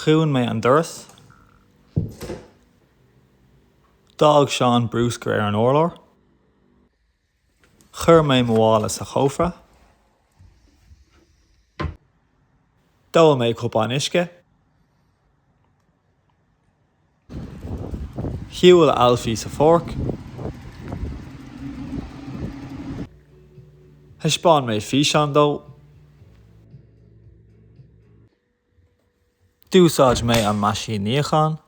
Dhún mé an doras. D'fhág Seán brúscar ar an urlár. Chuir mé mo mhála sa chófra. D'ól mé cupán uisce. Shiúil Ailfí sa pháirc. Thaispeáin mé físeán dó. D'úsáid mé an meaisín níocháin.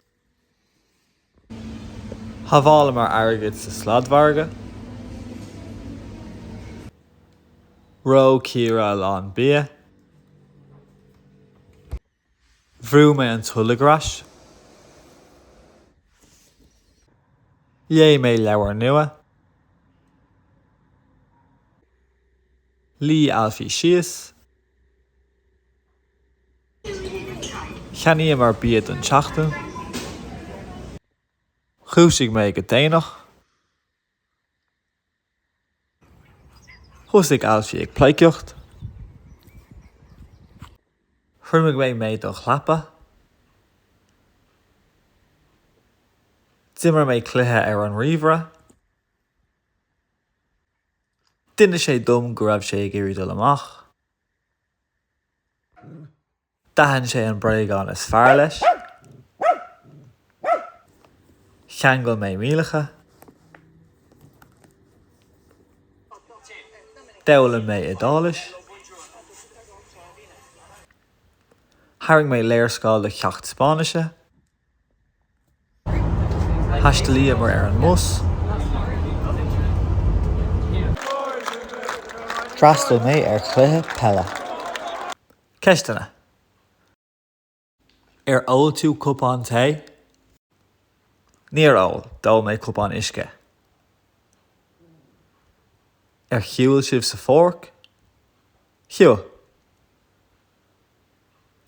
Shábháileamar airgead sa sladmhargadh. Reo Ciara a lán bia. Bhrúigh mé an tolg ar ais. Léigh mé leabhar nua. Luigh Ailfí síos. Cheannaíomar bia don tseachtain. Dhúisigh mé go déanach. Thosaigh Ailfí ag pleidhcíocht. Thriomaigh mé m'éadach leapa. D'imir mé cluiche ar an ríomhaire. D'inis sé dom go raibh sé ag iarraidh dul amach. D'aithin sé an bréagán is fearr leis, cheangail mé m'iallacha, d'fhoghlaim mé Iodáilis, tharraing mé léarscáil do cheacht Spáinnise, Thaistealaíomar ar an mbus. D'fhreastail mé ar chluiche peile. Ceisteanna, Ar ól tú cupán tae? Níor ól, d'ól mé cupán uisce. Ar shiúil sibh sa pháirc? Shiúil.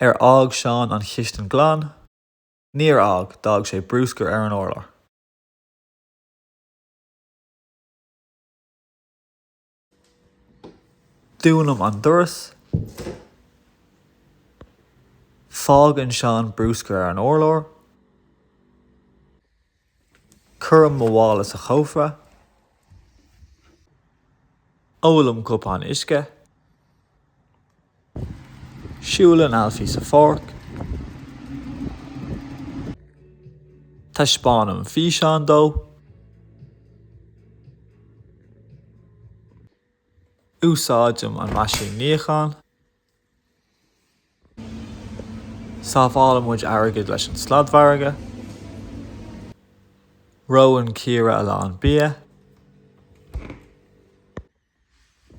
Ar fhág Seán an chistin glan? Níor fhág, d'fhág sé brúscar ar an urlár. Dúnaim an doras. Fágann Seán brúscar ar an urlár. Cuirim mo mhála sa chófra. Ólaim cupán uisce. Siúlann Ailfí sa pháirc. Taispeánaim físeán dó. Úsáidim an meaisín níocháin. Sábhálann muid airgead leis an sladmhargadh. Reonn Ciara a lán bia.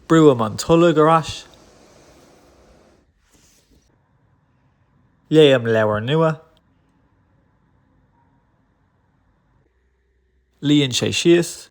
Brúim an tolg ar ais. Léim leabhar nua. Luíonn sé síos.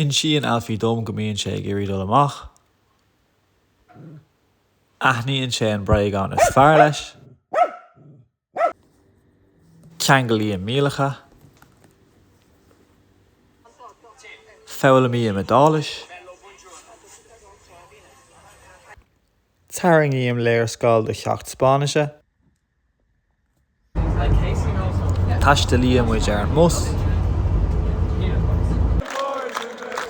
Insíonn Ailfí dom go mbíonn sé ag iarraidh dul amach. Aithníonn sé an bréagán is fearr leis. Ceanglaím m'iallacha. Foghlaimím Iodáilis. Tarraingím léarscáil do cheacht Spáinnise. Taistealaíonn muid ar an mbus.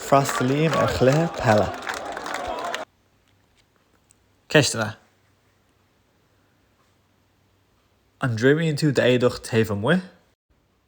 Freastalaím ar chluiche peile. Ceisteanna, An dtriomaíonn tú d'éadaí taobh amuigh?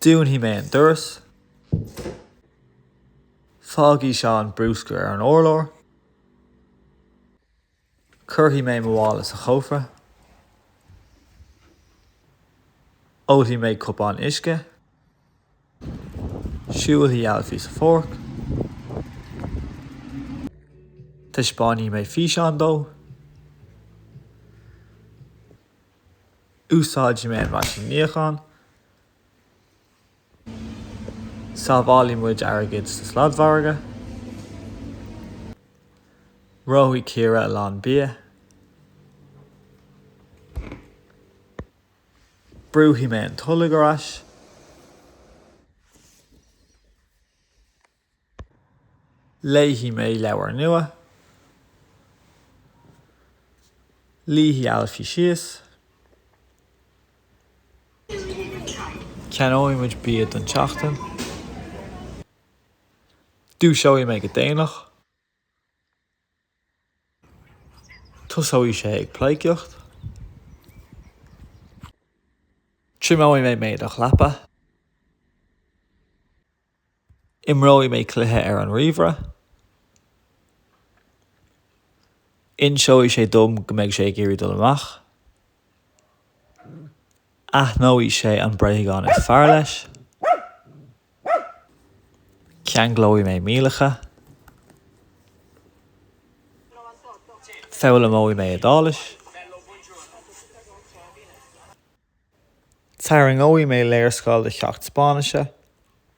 Dúnfaidh mé an doras. Fágfaidh Seán brúscar ar an urlár. Cuirfidh mé mo mhála sa chófra. Ólfaidh mé cupán uisce. Siúlfaidh Ailfí sa pháirc. Taispeánfaidh mé físeán dó. Úsáidfidh mé an meaisín níocháin. Sábhálfaidh muid airgead sa sladmhargadh. Reofaidh Ciara a lán bia. Brúfaidh mé an tolg ar ais. Léifidh mé leabhar nua. Luífidh Ailfí síos. Ceannóidh muid bia don tseachtain. Dúiseoidh mé go déanach. Tosóidh sé ag pleidhcíocht. Triomóidh mé m'éadach leapa. Imreoidh mé cluiche ar an ríomhaire. Inseoidh sé dom go mbeidh sé ag iarraidh dul amach. Aithneoidh sé an bréagán is fearr leis. Ceanglóidh mé m'iallacha. Foghlaimeoidh mé Iodáilis. Tarraingeoidh mé léarscáil de cheacht Spáinnise.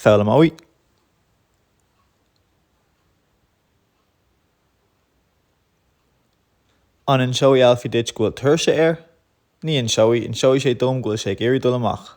foghlaimeoidh. An inseoidh Ailfí duit go bhfuil tuirse air? Ní inseoidh. Inseoidh sé dom go bhfuil sé ag iarraidh dul amach.